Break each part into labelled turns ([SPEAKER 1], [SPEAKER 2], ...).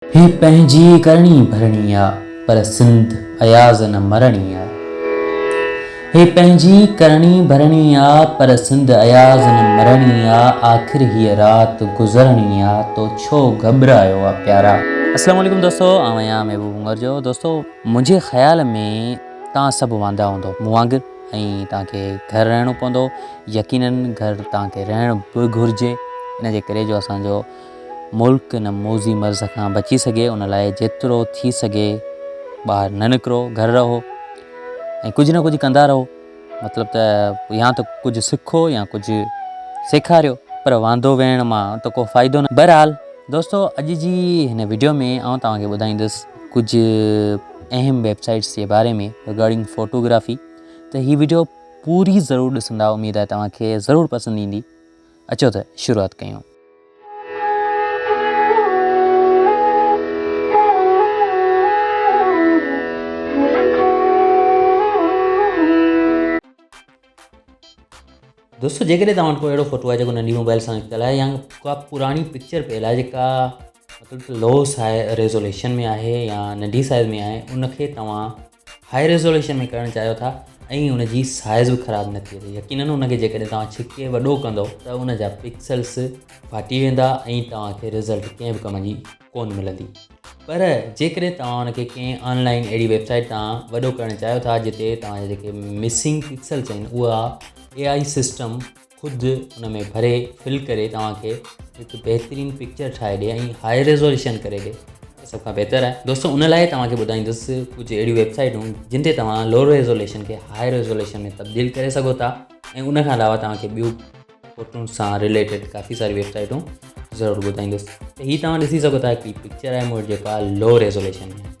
[SPEAKER 1] هي پنهنجي ڪرڻي ڀرڻي آ، پر سنڌ اياز نه مرڻي آ. هي پنهنجي ڪرڻي ڀرڻي آ، پر سنڌ اياز نه مرڻي آ، آخر هيء رات گذرڻي آ، تو ڇو گهٻرايو آ پيارا. اسلام عليڪم دوستو آئون آهيان محبوب عمر جو دوستو منهنجي خيال ۾ توهان سڀ واندا هوندو مون وانگر ۽ توهان کي گهر رهڻو پوندو يقينن گهر توهان کي رهڻ به گهرجي ان جي ڪري جو اسان جو ملڪ ان موذي مرض کان بچي سگهي ان لاء جيترو ٿي سگهي ٻاهر نه نڪرو گهر رهو ۽ ڪجهه نه ڪجهه ڪندا رهو مطلب ته يا ته ڪجهه سکو يا ڪجهه سيکاريو پر واندو ويهڻ مان ته ڪو فائدو نه بهرحال دوستو اڄ جي هن ويڊيو ۾ آئون توهان کي ٻڌائيندس ڪجهه اهم ويب سائيٽس جي باري ۾ رگارڊنگ فوٽوگرافي ته هي ويڊيو پوري ضرور ڏسندا اميد آهي توهان کي ضرور پسند ايندي اچو ته شروعات ڪيون. دوستو جيڪڏهن توهان وٽ ڪو اهڙو فوٽو آهي جيڪو ننڍي موبائل سان نڪتل آهي يا ڪا پراڻي پڪچر پيل آهي جيڪا مطلب لو سائز ريزوليشن ۾ آهي يا ننڍي سائز ۾ آهي ان کي توهان هاء ريزوليوشن ۾ ڪرڻ چاهيو ٿا ۽ ان جي سائز به خراب نه ٿئي ته يقينن ان کي جيڪڏهن توهان ڇڪي وڏو ڪندو ته ان جا پڪسلس ڦاٽي ويندا ۽ توهان کي رزلٽ ڪنهن به ڪم جي ڪون ملندي پر جيڪڏهن توهان ان کي ڪنهن آن لائن اهڙي ويب سائيٽ تان وڏو ڪرڻ چاهيو ٿا جتي توهان جا جيڪي مسنگ پڪسلس آهن اها اي آئي سسٽم خود ان ۾ ڀري فل ڪري توهان کي هڪ بهترين پڪچر ٺاهي ڏي ۽ هاء ريزوليشن ڪري ڏي سڀ کان بهتر آهي دوستو ان لاء توهان کي ٻڌائيندس ڪجهه اهڙيون ويب سائيٽون جن تي توهان لو ريزوليشن کي هاء ريزوليشن ۾ تبديل ڪري سگهو ٿا ۽ ان کان علاوه توهان کي ٻيون فوٽون سان ريليٽيڊ کافي ساري ويب سائيٽون ضرور ٻڌائيندس هي توهان ڏسي سگهو ٿا هڪ پڪچر آهي مور جيڪا لو ريزوليشن ۾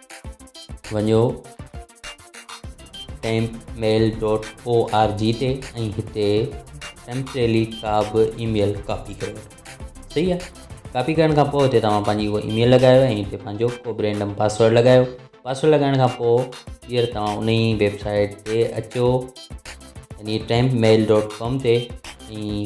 [SPEAKER 1] وڃو temp mail dot O R G تي ۽ هتي ٽيمپريلي ڪا به اي ميل ڪاپي ڪري وٺو صحيح آهي ڪاپي ڪرڻ کان پوء هتي توهان پنهنجي اهو اي ميل لڳايو ۽ هتي پنهنجو ڪو به رينڊم پاسورڊ لڳايو پاسورڊ لڳائڻ کان پوء ٻيهر توهان ان ئي ويبسائيٽ تي اچو يعني ٽيمپ ميل ڊاٽ ڪام تي ۽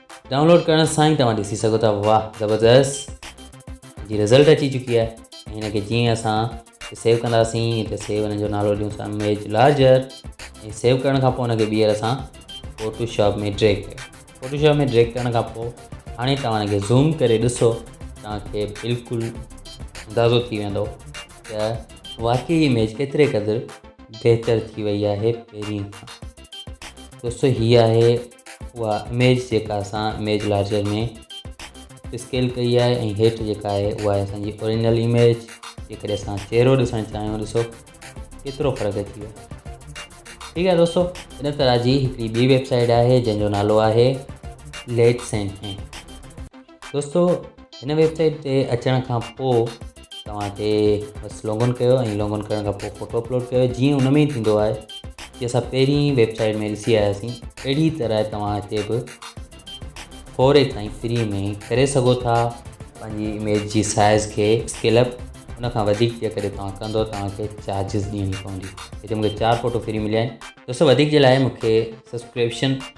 [SPEAKER 1] ڊائونلوڊ ڪرڻ سان ئي توهان ڏسي سگهو ٿا واهه زبردست جي رزلٽ اچي چڪي آهي ۽ هن کي جيئن اسان سيو ڪنداسين هتي سيو هن جو نالو ڏيون ٿا ايميج لارجر ۽ سيو ڪرڻ کان پوء هنکي ٻيهر اسان فوٽو شاپ ۾ ڊريگ ڪيو فوٽو شاپ ۾ ڊريگ ڪرڻ کان پوء هاڻي توهان هنکي زوم ڪري ڏسو توهانکي بلڪل اندازو ٿي ويندو ته واقعي ايميج ڪيتري قدر بهتر ٿي وئي آهي پهرين کان دوستو هي آهي اها اميج جيڪا اسان اميج لارجر ۾ اسڪيل ڪئي آهي ۽ هيٺ جيڪا آهي اها آهي اسانجي اوريجنل اميج جيڪڏهن اسان چهرو ڏسڻ چاهيون ڏسو ڪيترو فرق اچي ويو ٺيڪ آهي دوستو ان طرح جي هڪڙي ٻي ويب سائيٽ آهي جنهن جو نالو آهي ليٽ سين دوستو هن ويب سائيٽ تي اچڻ کان پوء توهان کي بس لوگن ڪيو ۽ لوگن ڪرڻ کان پوء فوٽو اپلوڊ ڪيو جيئن ان ۾ ٿيندو آهي جي اسان پهرين ويب سائيٽ ۾ ڏسي آياسين اهڙي طرح توهان هتي به فوري کان ئي فري ۾ ڪري سگهو ٿا پنهنجي اميج جي سائز کي اسڪيل اپ ان کان وڌيڪ جيڪڏهن توهان ڪندو توهانکي چارجز ڏيڻي پوندي هتي مونکي چار فوٽو فري مليا آهن دوستو وڌيڪ جي لاء مونکي سبسڪريپشن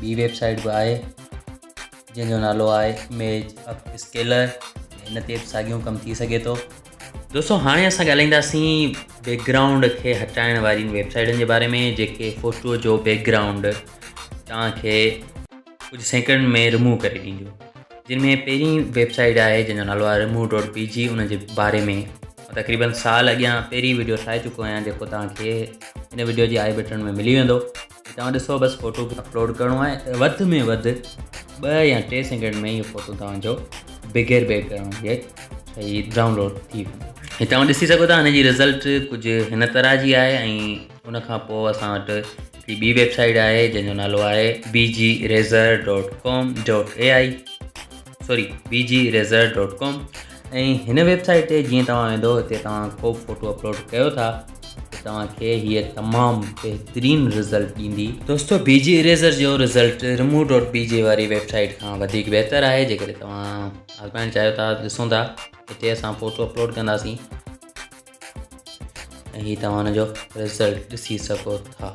[SPEAKER 1] ٻي ويب سائيٽ به آهي جنهن جو نالو آهي ايميج اپ اسڪيلر هن تي به ساڳيو ڪم ٿي سگھي ٿو دوستو هاڻي اسان ڳالهائينداسين بيڪ گرائونڊ کي هٽائڻ وارين ويب سائيٽن جي باري ۾ جيڪي فوٽو جو بيڪ گرائونڊ توهانکي ڪجهه سيڪنڊ ۾ رموو ڪري ڏينديون جن ۾ پهرين ويب سائيٽ آهي جنهن جو نالو آهي رموو ڊاٽ بي جي ان جي باري ۾ تقريبن سال اڳيان پهرين ويڊيو ٺاهي چڪو آهيان جيڪو توهانکي هن ويڊيو جي آئي بٽن ۾ ملي ويندو توهان ڏسو بس فوٽو اپلوڊ ڪرڻو آهي وڌ ۾ وڌ ٻه يا ٽي سيڪنڊ ۾ اهو فوٽو توهان جو بغير بيڪ گرائونڊ جي هي ڊائونلوڊ ٿي ويندو هي توهان ڏسي سگهو ٿا هن جي رزلٽ کجه هن طرح جي آهي ۽ ان کان پوء اسان وٽ هڪڙي ٻي ويب سائيٽ آهي جنهن جو نالو آهي B G eraser dot com dot A I sorry B G eraser dot com ۽ هن ويب سائيٽ تي جيئن توهان ويندو هتي توهان ڪو به فوٽو اپلوڊ ڪيو ٿا توهانکي هيء تمام بهترين رزلٽ ڏيندي دوستو بي جي اريزر جو result remove dot B G واري ويب سائيٽ کان وڌيڪ بهتر آهي جيڪڏهن توهان آزمائڻ چاهيو ٿا ڏسو ٿا هتي اسان فوٽو اپلوڊ ڪنداسين ۽ هي توهان هن جو رزلٽ ڏسي سگهو ٿا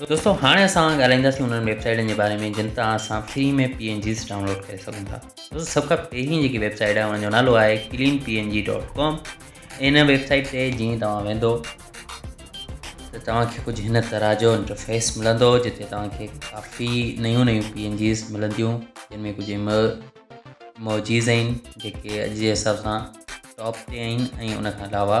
[SPEAKER 1] دوستو هاڻي اسان ڳالهائينداسين انهن ويب سائيٽن جي باري ۾ جن تان اسان free ۾ P N Gs download ڪري سگهون ٿا دوستو سڀ کان پهرين جيڪي ويب سائيٽ آهي ان جو نالو آهي clean P N G dot com ان ويب سائيٽ تي جيئن توهان ويندو ته توهانکي ڪجهه هن طرح جو انٽرفيس ملندو جتي توهانکي ڪافي نيون نيون پي اين جيز ملنديون جن ۾ ڪجهه ايمو موجيز آهن جيڪي اڄ جي حساب سان ٽاپ تي آهن ۽ ان کان علاوه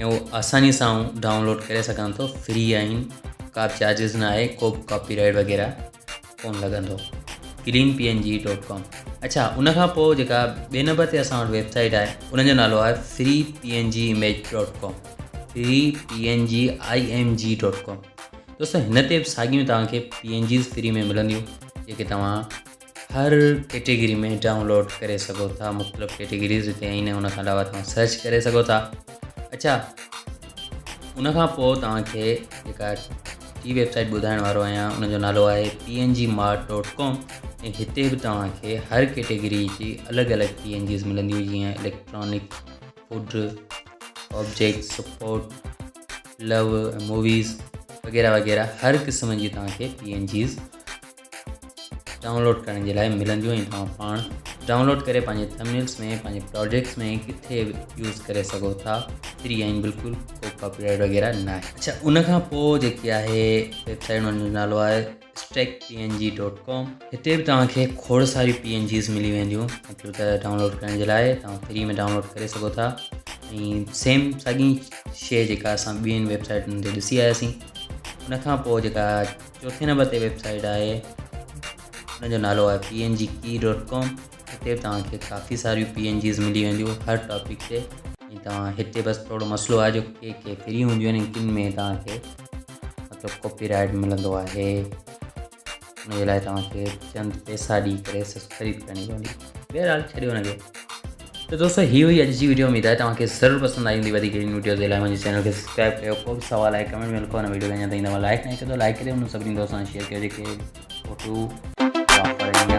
[SPEAKER 1] ۽ اهو آساني سان آئون ڊائونلوڊ ڪري سگهان ٿو فري آهن ڪا به چارجز نه آهي ڪو به ڪاپي رائيڊ وغيره ڪون لڳندو clean P N G dot com اچھا ان کان پوء جيڪا ٻئي نمبر تي اسان وٽ ويبسائيٽ آهي ان جو نالو آهي free P N G image dot com free P N G I M G dot com دوستو هن تي به ساڳيون توهان کي پي اين جيز فري ۾ ملنديون جيڪي توهان هر ڪيٽيگري ۾ ڊائونلوڊ ڪري سگهو ٿا مختلف ڪيٽيگريز هتي آهن ان کان علاوه توهان سرچ ڪري سگهو ٿا اچھا ان کان پوء توهانکي جيڪا ٽي ويب سائيٽ ٻڌائڻ وارو آهيان ان جو نالو آهي P N G mart dot com ۽ هتي به توهانکي هر ڪيٽيگري جي الڳ الڳ پي اين جيز ملنديون جيئن electronic food object support love movies وغيره وغيره هر قسم جي توهانکي پي اين جيز ڊائونلوڊ ڪرڻ جي لاء ملنديون ۽ توهان پاڻ ڊائونلوڊ ڪري پنهنجي ٿمنيلز ۾ پنهنجي پراجيڪٽس ۾ ڪٿي به يوز ڪري سگهو ٿا فري آهن بلڪل ڪو ڪاپي رائيٽ وغيره نه آهي اڇا ان کان پوء جيڪي آهي ويب سائيٽ ان جو نالو آهي stick P N G dot com هتي به توهان کي کوڙ ساري پي اين جيز ملي وينديون مطلب ته ڊائونلوڊ ڪرڻ جي لاء توهان فري ۾ ڊائونلوڊ ڪري سگهو ٿا ۽ سيم ساڳي شي جيڪا اسان ٻين ويب سائيٽن تي ڏسي آياسين ان کان پوء جيڪا چوٿين نمبر تي ويب سائيٽ آهي ان جو نالو آهي P N G key dot com هتي توهان کي ڪافي ساريون پي اين جيز ملي وينديون هر ٽاپڪ تي ۽ توهان هتي بس ٿورو مسئلو آهي جو ڪي ڪي فري هونديون آهن ڪن ۾ توهان کي مطلب ڪاپي رائٽ ملندو آهي ان جي لاء توهان کي چند پيسا ڏي ڪري خريد ڪرڻي پوندي بهرحال ڇڏيو هن کي تو دوستو هي هئي اڄ جي ويڊيو اميد آهي توهان کي ضرور پسند آئي هوندي وڌيڪ اهڙين ويڊيوز جي لاء منهنجي چينل کي سبسڪرائب ڪيو ڪو به سوال آهي ڪمينٽ ۾ لکو هن ويڊيو کي اڃا تائين توهان لائڪ نه ڪيو ته لائڪ ڪري هن سڀني دوستن سان شيئر ڪيو جيڪي فوٽو واپر ايندا